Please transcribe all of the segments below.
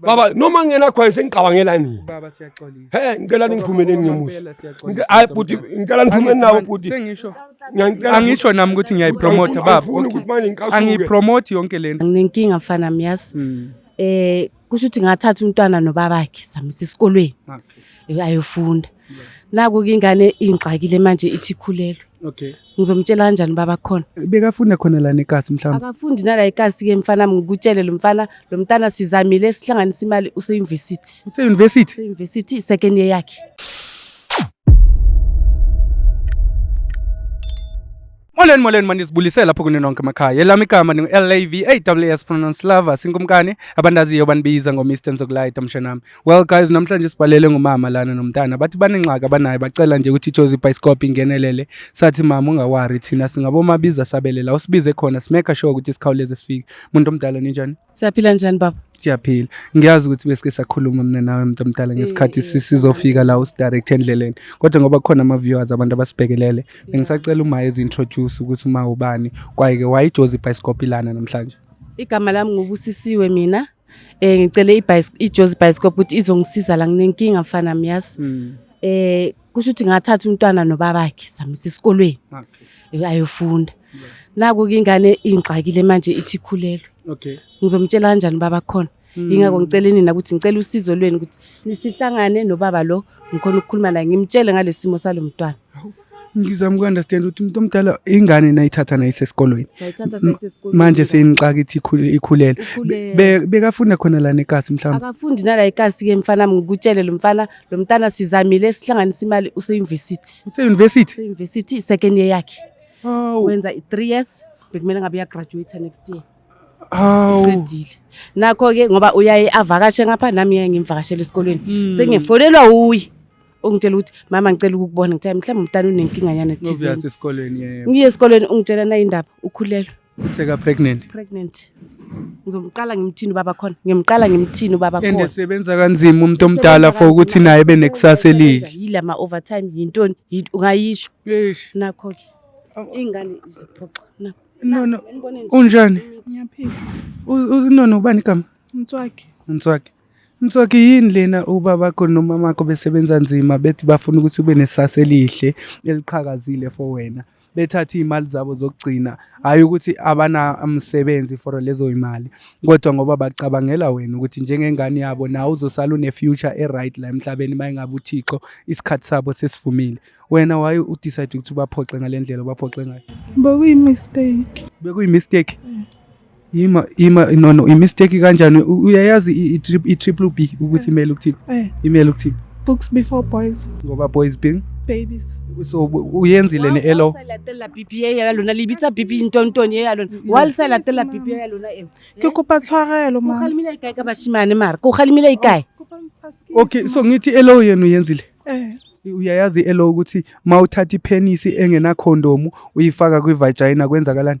baba noma ngenakhwayo sengicabangela nini he ngicela ningiphumeleni ngemusahayi bhuti ngicela niphumeni nawo bhuti angisho nami ukuthi ngiyayipromotha baba angiyipromothi yonke le nto nginenkinga mfana miyazi um hmm. eh, kusho ukuthi ngathatha umntwana nobabakhe samisa esikolweni ayofunda naku ke ingane ingixakile manje ithi ikhulelwe okay ngizomtshela kanjani baba khona bekafunda khona lana ekasi mhlawumbe akafundi nala ikasi ke mfana wami ngikutshele lo mfana lo mntana sizamile sihlanganisa imali use-university use-university use-university second year yakhe Molweni molweni manizibulise lapho kuni nonke emakhaya elami igama ndingu-lav pronounce lava sinkumkani abandaziyo banibiza ngo-mr nzokulayita mshanami well guys namhlanje sibhalele ngumama lana nomntana bathi banengxaki abanayo bacela nje ukuthi ijozi ibhayisikobho ingenelele sathi mama ungawari thina singabomabiza sabele la usibize khona simeka sure ukuthi sikhawuleze sifike muntu omdala ninjani Siyaphila njani baba? Siyaphila. Ngiyazi ukuthi besike sakhuluma mina nawe mntu omdala eh, ngesikhathi eh, sizofika la usidirect endleleni. Kodwa ngoba kukhona ama viewers abantu abasibhekelele, bengisacela uma ezi introduce ukuthi uma ubani, kwayike wayijozi bicycle ilana namhlanje. Igama lami ngubusisiwe mina. Eh ngicele ijozi bicycle ukuthi izongisiza la nginenkinga mfana myazi. Hmm. Eh kusho ukuthi ngathatha umntwana nobabakhe samisa esikolweni. Okay. Ayofunda. naku ke ingane ingixakile manje ithi ikhulelwe okay ngizomtshela kanjani baba khona hmm. yingakho ngicela nina ukuthi ngicela usizo lwenu ukuthi nisihlangane nobaba lo ngikhona ukukhuluma naye ngimtshele ngalesimo salomntwana ngizama uku-understand ukuthi umuntu omdala ingane nayithatha nayisesikolweni manje seyinixaka ithi ikhulele bekafunda khona lana ekasi mhlawumbe akafundi nala ikasi-ke mfana ngikutshele lo mfana lo mntana sizamile sihlanganisa imali useyunivesithi useyunivesithi useyunivesithi second year yakhe Hawu. wenza i-three years bekumele ngabe uyagraduate next year Hawu. qedile nakho-ke ngoba uyaye avakashe ngapha nami yaye ngimvakashele esikolweni Mm. sengifonelwa wuye ungitshela ukuthi mama ngicela ukukubona ngithe mhlawumbe umntana unenkinga nyana Ngoba thize uyase esikoleni yebo. ngiye esikolweni ungitshela nayindaba ukhulelwe Seka pregnant. pregnant ngizomqala ngimthini ubaba khona ngimqala ngimthini ubaba And khona esebenza kanzima umuntu omdala for ukuthi naye ebe nekusasa elihle. yila ma overtime yintoni Yint- ungayisho Eish. nakho ke ingane iziphoxa nakho No no. Ngibone nje. Unjani? Ngiyaphila. Uz- uz- No no ubani igama? Mtswaki. Mtswaki. Mtswaki yini lena ubabakho nomamakho besebenza nzima bethi bafuna ukuthi ube nesasa elihle eliqhakazile for wena. bethathe iy'mali zabo zokugcina hhayi ukuthi abanamsebenzi for lezo y'mali kodwa ngoba bacabangela wena ukuthi njengengane yabo nawe uzosala une-future e-right la emhlabeni uma engabe uthixo isikhathi sabo sesivumile wena waye udecide ukuthi ubaphoxe ngale ndlela ubaphoxe ngayo bekuyi-mistake bekuyi-mistake Ima ima no no imistake kanjani uyayazi i triple B ukuthi imele ukuthini? Eh. Imele ukuthini? Books before boys. Ngoba boys being babies so uyenzile ne elo salatela pipi ye ya lona libitsa pipi ntonton ye ya lona mm. wa salatela pipi ya lona e ke kopa tshwarelo ma khalimile ikae ka bashimane mara ko khalimile ikae oh, okay so ngithi elo yenu yenzile eh uyayazi elo ukuthi mawuthatha ipenisi engena condom uyifaka kwi vagina kwenzakalani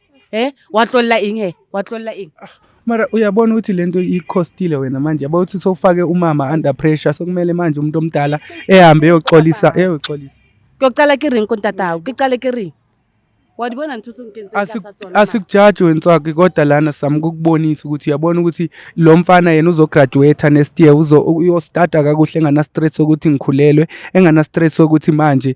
Eh watlolla ing he watlolla ing. Ah, mara uyabona ukuthi lento ikhostile wena manje yabo ukuthi sofake umama under pressure sokumele manje umuntu omdala ehambe eyoxolisa eyoxolisa. Kuyocala ke ring kontatawo kicale ke ring. Wadibona ntuthu ngenze kasatsona. Asikujaji wenswaki kodwa lana sami kukubonisa ukuthi uyabona ukuthi lo mfana yena uzograduate next year uzo uyostata kakuhle engana stress ukuthi ngikhulelwe engana stress ukuthi manje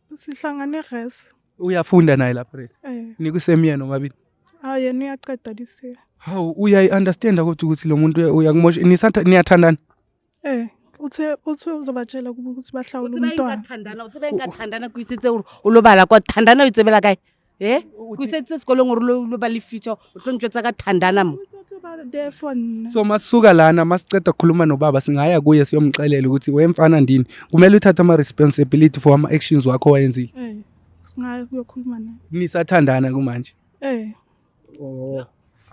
Sihlangane res. Uyafunda naye lapho res. Eh. Nikusemyeni omabili. Ah yena uyaqeda this year. Hawu uyayi understand ukuthi ukuthi lo muntu uyakumosha nisatha niyathandana. Eh uthe uthe uzobatshela ukuthi bahlawule umntwana. Uthe bayithandana uthe bayithandana kwisitse ulobala kwathandana uyitsebela kayi. e kusetsa sekolong gore lo lo ba le future o tlo ntswetsa ka thandana mo therefore nna so masisuka lana masiceda ukukhuluma nobaba singaya kuye siyomxelela ukuthi wemfana ndini kumele uthathe ama-responsibility for ama-actions wakho wayenzile Eh, singayo kuyokhuluma naye nisathandana kumanje eh Oh.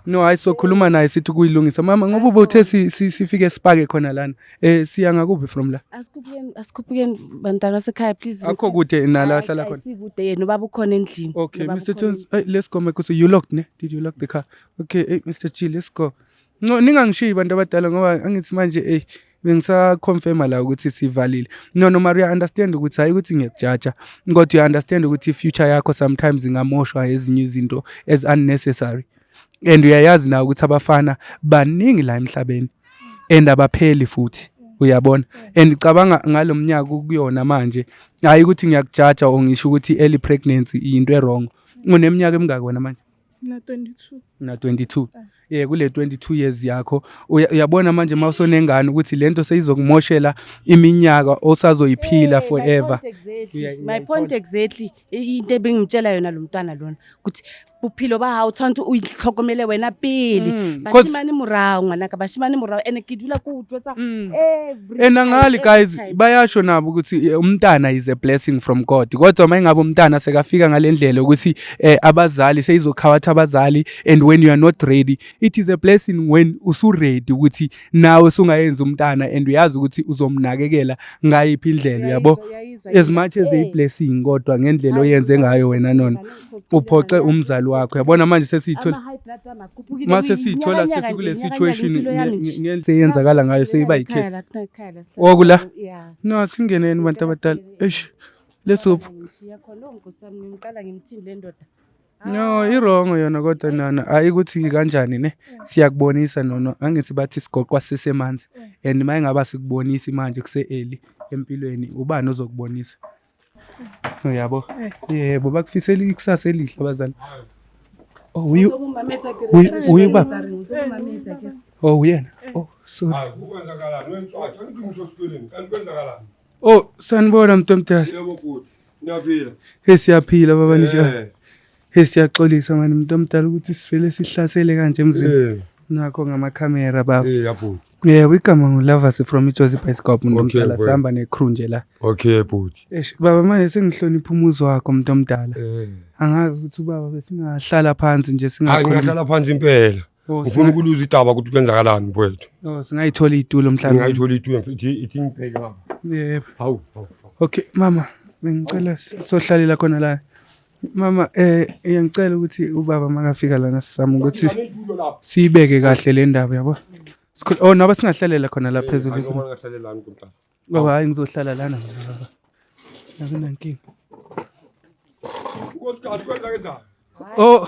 no hayi sokhuluma naye sithi kuyilungisa mama ngoba ubothe sifike sipake khona lana eh siya ngakuphi from la asikhuphukeni asikhuphukeni bantwana sekhaya please akho kude nala ahlala khona sikude yena ubaba ukhona endlini okay mr jones hey, let's go mekuthi you locked ne did you lock the car okay hey, mr g let's go no ningangishiyi bantu abadala ngoba angithi manje hey bengisaconfirma la ukuthi sivalile no no mara uya-understand ukuthi hhayi ukuthi ngiyakujaja kodwa uya-understand ukuthi i-future yakho sometimes ingamoshwa ezinye izinto as unnecessary and uyayazi nawe ukuthi abafana baningi la emhlabeni and abapheli futhi uyabona and ngicabanga ngalo mnyaka kuyona manje hhayi ukuthi ngiyakujaja or ngisho ukuthi i-early pregnancy yinto e-wrong uneminyaka emingaki wena manje Mina 22. Mina 22. Ah. Yeah kule 22 years yakho uyabona manje mawusonengane ukuthi lento seyizokumoshela iminyaka osazoyiphila eh, forever. My point exactly into ebengimtshela yona lo mntwana lona ukuthi bophelo ba hao tshwanetse o itlhokomele wena pele mm, bashimane morao ngwanaka bashimane morao and ke dula ko utlwetsa mm. ena ngali guys bayasho nabo ukuthi eh, umntana is a blessing from god kodwa uma ingabe umntana sekafika ngale ndlela ukuthi eh, abazali seyizokhawatha abazali and when you are not ready it is a blessing when usuready ukuthi nawe usungayenza umntana and uyazi ukuthi uzomnakekela ngayiphi indlela uyabo as much as a blessing kodwa ngendlela oyenze ngayo wena nona uphoxe umzali wakho yabona manje sesiyithola uma sesiyithola sesikule situation ngendlela eyenzakala ngayo seyiba yikhesi okula no singeneni bantu abadala eish let's hope ngishiya khona ongosami ngimqala ngimthini le ndoda no ah. irongo yona kodwa nana hayi ukuthi kanjani ne siyakubonisa nono angithi bathi sigoqwa sisemanzi mm. and uma engaba sikubonisi manje kuse-eli empilweni ubani ozokubonisa mm. uyabo eh. yebo bakufisela ikusasa elihle abazali oh, uye uba oh uyena oh sorry ah, kwenzakalani wemfowethu angithi ngisho sikoleni kanti kwenzakalani Oh, sanibona mntu omdala. Yebo bhuti. Niyaphila. Hey siyaphila baba nisha. Eh. Hey siyaxolisa mani mntu omdala ukuthi sivele sihlasele kanje emzini. Eh. Nakho ngama camera baba. Eh yabhuti. Yeah, we come on lovers from Ijozi Bioscope mntu omdala sihamba ne crew nje la. Okay bhuti. Eish baba manje sengihlonipha umuzi wakho mntu omdala. Eh. Angazi ukuthi ubaba besingahlala phansi nje singakhona. Angahlala phansi impela. Oh, ngifuna singa- ukuluza idaba ukuthi kwenzakalani mfowethu oh, singayithola iy'tulo mhlawumbe ngingayithola itulo ithi ithi ngibheke lapha Yebo. hawu hawu, hawu. okay mama bengicela s- sohlalela khona la mama eh ngiyangicela ukuthi ubaba makafika lana sizama ukuthi Ngifuna itulo lapha. siyibeke kahle le ndaba yabo Sikhul- oh naba singahlalela khona la phezulu Hayi, noma ngingahlale lani kumtana. Baba hayi ngizohlala lana mina baba. Akunankinga. Unkosikazi kwenza kanjani? Oh.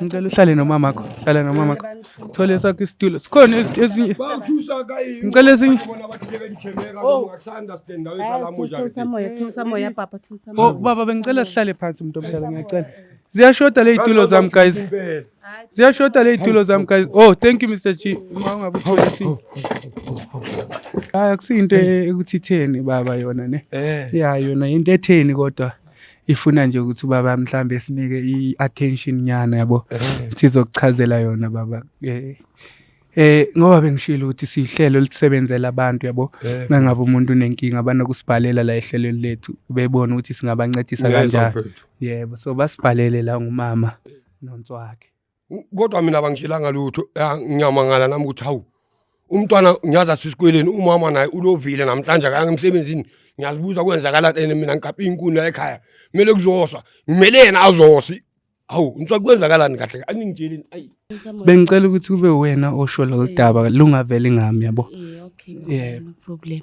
Ngicela uhlale nomama wakho. Hlala nomama wakho. Thole sakho isitulo. Sikhona ezi- ezinye. Bathusa kayi. Ngicela ezinye. Bona bathi ngeke ngithembeka Oh. ngoba akusanda stand nawe Hayi, salamu thusa njani. umoya thusa umoya papa thusa Oh umoya baba bengicela sihlale phansi umuntu omdala ngiyacela. Ziyashoda leyitulo zami guys. Impela. ziyashoda ley'tulo zami guys oh thank you mr g uma ungabe utholaisi hayi akusiyinto ekuthi itheni baba yona ne eh. ya yona yinto etheni kodwa ifuna nje ukuthi ubaba mhlawumbe sinike i-attention nyana yabo eh. sizokuchazela yona baba eh eh ngoba bengishilo ukuthi sihlelo lisebenzela abantu yabo eh. mangabe umuntu unenkinga banokusibhalela la ehlelweni lethu bebona ukuthi singabancedisa kanjani yebo so basibhalele la ngumama nontswakhe kodwa mina bangishelanga lutho ya ngiyamangala nami ukuthi hawu umntwana ngiyazi asisikweleni umama naye ulovile namhlanje akaya emsebenzini ngiyazibuza kwenzakala and mina ngiqaphe inkuni la ekhaya kumele kuzoswa ngimele yena azosi hawu ngiswa kwenzakalani kahle aningitsheleni ayi bengicela ukuthi kube wena osho lolu daba lungaveli ngami yabo yeah, okay, yeah. no problem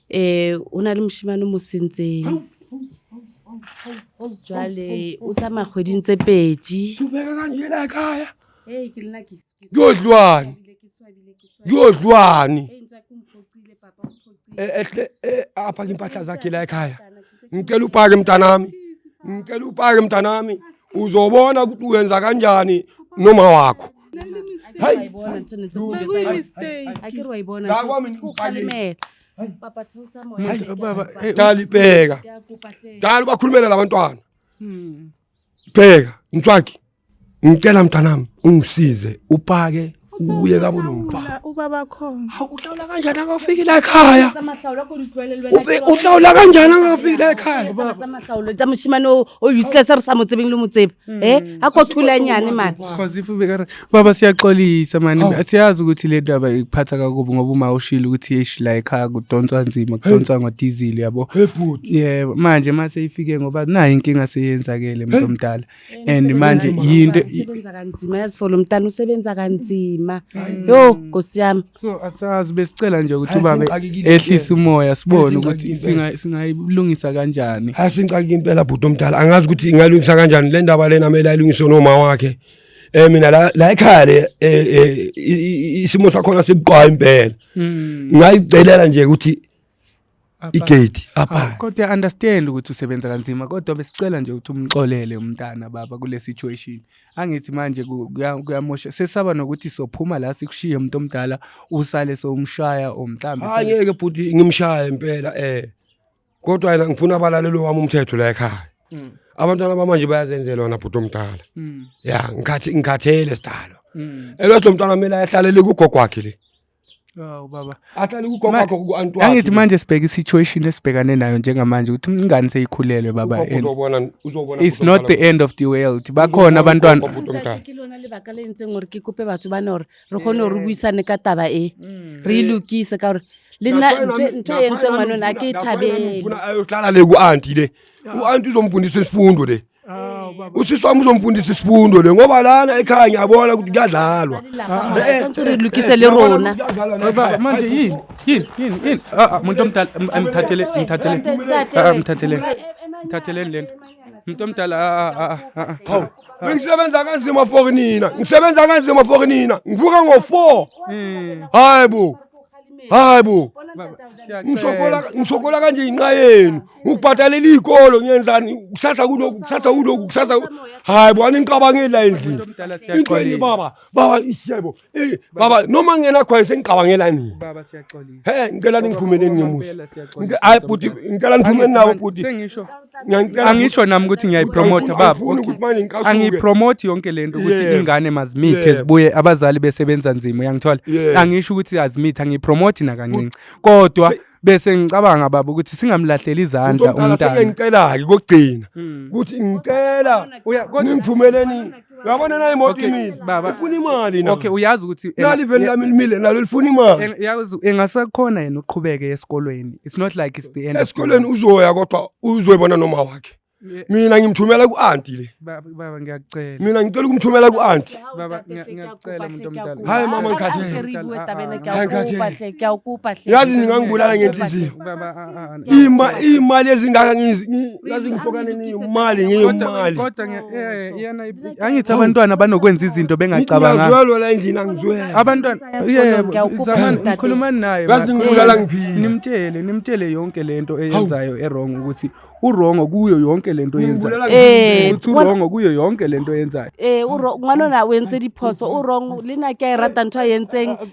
eh o na le moshimane mo sentseng jwale o tsamaya kgweding tse pedi yodlwane yodlwane apha ke impahla zakhe la ekhaya ngicela upake mntanami ngicela upake mntanami uzobona ukuthi uyenza kanjani noma wakho dali bheka dali ubakhulumela labantwana hmm. bheka mtswaki ngicela mntanami ungisize upake uye kabo nomfana ubaba khona awuhlawula kanjani akafiki la ekhaya uhlawula kanjani akafiki la ekhaya amahlawulo tsa moshimane o useless re sa mo tsebeng le mo tsebe Hmm. Eh akothula nyani mani. Because if ubekara baba siyaxolisa mani oh. siyazi ukuthi le ndaba ikuphatha kakubi ngoba uma ushilo ukuthi yesh la ekhaya kudonswa nzima kudonswa ngodizili yabo. Yeah manje mase ifike ngoba nayi inkinga seyenzakele umuntu omdala. And manje yinto isebenza kanzima yazifolo mntana usebenza kanzima. Yo nkosiyami. so asazi besicela nje ukuthi ubaba ehlise umoya sibone ukuthi singayilungisa kanjani hayi singixakile impela bhuti omdala angazi ukuthi ingalungisa kanjani le ndaba lena kumele ayilungiswe noma wakhe eh mina la la ekhaya le eh, eh, isimo sakhona sibuqwa impela hmm. ngayicelela nje ukuthi igate apha kodwa i understand ukuthi usebenza kanzima kodwa besicela nje ukuthi umxolele umntana baba kule situation angithi manje kuyamosha sesaba nokuthi sophuma la sikushiye umuntu omdala usale sowumshaya or mhlambe angeke bhuti ngimshaya impela eh kodwa yena ngifuna abalalelo wami umthetho la ekhaya mm. abantwana bamanje bayazenzela wona bhuti omdala mm. ya ngikhathele sidalo mm. elwathi lo mntwana kumele ayehlalele kugogo wakhe le Awu baba. Aqale ukugoqwa kuantu wakhe. Angithi manje sibheke situation esibhekane nayo njengamanje ukuthi ingane seyikhulelwe baba. Uzobona uzobona. It's not the end of the world. Bakhona abantwana. Ke lona le baka le ntseng gore ke kope batho ba nore re gone re buisane ka taba e. Mm. Re ilukise ka gore le nna ntho e ntseng ngwanona ke thabele. Ufuna ayohlala le ku auntie le. U auntie uzomfundisa isifundo le. usisi wami uzomfundisa isifundo le ngoba lana ekhaya ngiyabona ukuthi kuyadlalwa lukise le rona manje yini yini yini yini ah, ah, muntu omdala mthathele mthathele ah, mthathele mthathele le nto muntu omdala hawu bengisebenza kanzima for nina ngisebenza kanzima for nina ngivuka ngo-four hmm. hayi bo hayi bo ngisokola ngisokola kanje inqa yenu ukubhadalela iy'kolo ngiyenzani kusasa kuloku kusasa kuloku kusasa hayi bo aninicabangeli la endlini into enye baba baba isiyebo eyi baba noma ngingenakhwayo sengicabangela nini he ngicela ningiphumeleni ngemusa hayi bhuti ngicela niphumeni nabo bhuti Ngiyangicela angisho nami ukuthi ngiyayipromotha baba angifuni ukuthi manje ngicasuke. angiyipromothi yonke lento ukuthi Yeah. ingane mazimithe Yeah. zibuye abazali besebenza nzima uyangithola Yeah. angisho ukuthi azimithe angiyipromothi nakancinci kodwa Se- bese ngicabanga baba ukuthi singamlahleli izandla Umntwana umntana sengiyangicela-ke kokugcina ukuthi ngicela Uya- kodwa- ningiphumeleni Uyabona nayo imoto Okay, imile. baba. Ifuna imali na. okay uyazi ukuthi enga- Nali vele lami limile nalo lifuna imali. en- yazi engasakhona yena uqhubeke esikolweni it's not like it's the end of the Esikoleni world. uzoya kodwa uzoyibona noma wakhe. Yeah, Mina ngimthumela ku-anti le. baba baba ngiyakucela Mina ngicela ukumthumela ku-anti. Baba, ngiya- ngiyacela umuntu omdala. Hayi, mama, ngikhathele. Hayi, ngikhathele. Yazi ningangibulala ngenhliziyo. Baba, Ima imali ezingaka ngazingifokane ngiyimali ngiyimali. Kodwa eh, iyena angithi abantwana banokwenza izinto bengacabanga. Ngizwelo la endlini angizwelo. Abantwana yebo zamani ngikhulumani naye. Ngathi ngibulala ngiphila. Nimtshele nimtshele yonke lento eyenzayo erong ukuthi urongo kuyo yonke lento oyenzayo eh uthi urongo kuyo yonke lento oyenzayo eh urongo ngwanona wentse diphoso urongo lena ke rata ntwa yentseng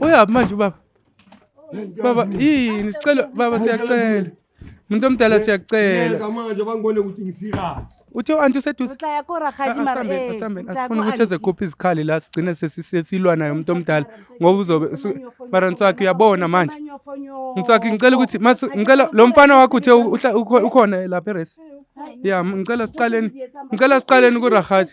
Uyaphi manje ubaba? Baba, yini sicela baba siyacela. Umuntu omdala siyacela. Manje bangibone ukuthi ngisikahle. Uthe u-anti useduze. Utla ya ko rakgadi ah, mara eh. Asambeni asifuna ukuthi ezekhupha izikhali la sigcine sesilwa naye umuntu omdala ngoba uzobe mara Ntswaki uyabona manje. Ntswaki ngicela ukuthi ngicela lo mfana wakho uthe ukhona lapha eresi. Eh, ya ngicela siqaleni ngicela siqaleni ku rakgadi.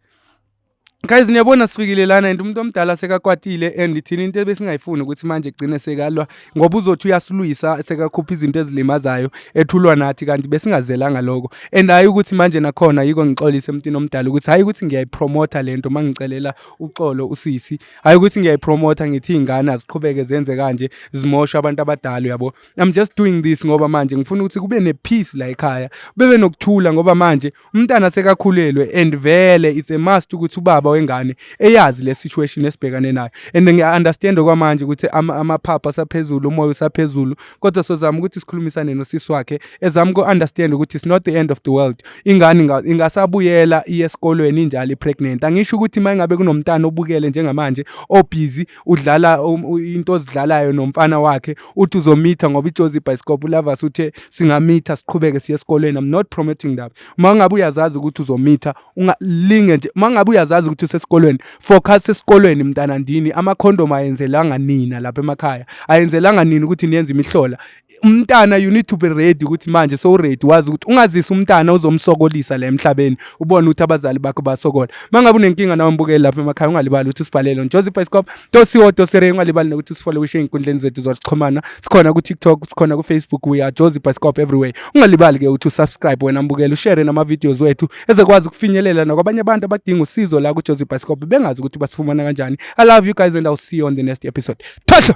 guys niyabona sifikile lana and umuntu omdala sekakwatile and thina into ebesingayifuni ukuthi manje kugcine sekalwa ngoba uzothi uyasilwisa sekakhupha izinto ezilimazayo ethulwa nathi kanti besingazelanga lokho and hayi ukuthi manje nakhona yiko ngixolise emntwini omdala ukuthi hayi ukuthi ngiyayipromotha lento mangicelela uxolo usisi hayi ukuthi ngiyayipromotha ngithi ingane aziqhubeke zenze kanje zimosha abantu abadala yabo i'm just doing this ngoba manje ngifuna ukuthi kube nepeace la ekhaya bebe nokuthula ngoba manje umntana sekakhulelwe and vele it's a must ukuthi ubaba wengane eyazi le situation esibhekane nayo and ngiya-understand okwamanje ukuthi amaphapha asaphezulu umoya usaphezulu kodwa sozama ukuthi sikhulumisane nosisi wakhe ezama uku-understand ukuthi it's not the end of the world ingane ingasabuyela iye esikolweni injalo i-pregnant angisho ukuthi uma ingabe kunomntana obukele njengamanje obhizi udlala um, into ozidlalayo nomfana wakhe uthi uzomitha ngoba ijozi ibhayisikobho ulavas uthe singamitha siqhubeke siye esikoleni i'm not promoting that uma ngabe uyazazi ukuthi uzomitha ungalinge nje uma ngabe uyazazi ukuthi usesikolweni focus esikolweni mntana ndini amakhondom ayenzelanga nina lapha emakhaya ayenzelanga nina ukuthi niyenze imihlola umntana you need to be ready ukuthi manje so ready wazi ukuthi ungazisa umntana uzomsokolisa la emhlabeni ubone ukuthi abazali bakho basokola mangabe unenkinga nawe mbukeli lapha emakhaya ungalibali ukuthi usibhalele on Jozi Bioscope tosiwo tosere ungalibali nokuthi usifole wishe inkundleni zethu zokuxhumana sikhona ku TikTok sikhona ku Facebook we are Jozi Bioscope everywhere ungalibali ke ukuthi usubscribe wena mbukeli ushare nama videos wethu ezekwazi ukufinyelela nakwabanye abantu abadinga usizo la ku Jozi Bioscope bengazi ukuthi basifumana kanjani i love you guys and i'll see you on the next episode thosha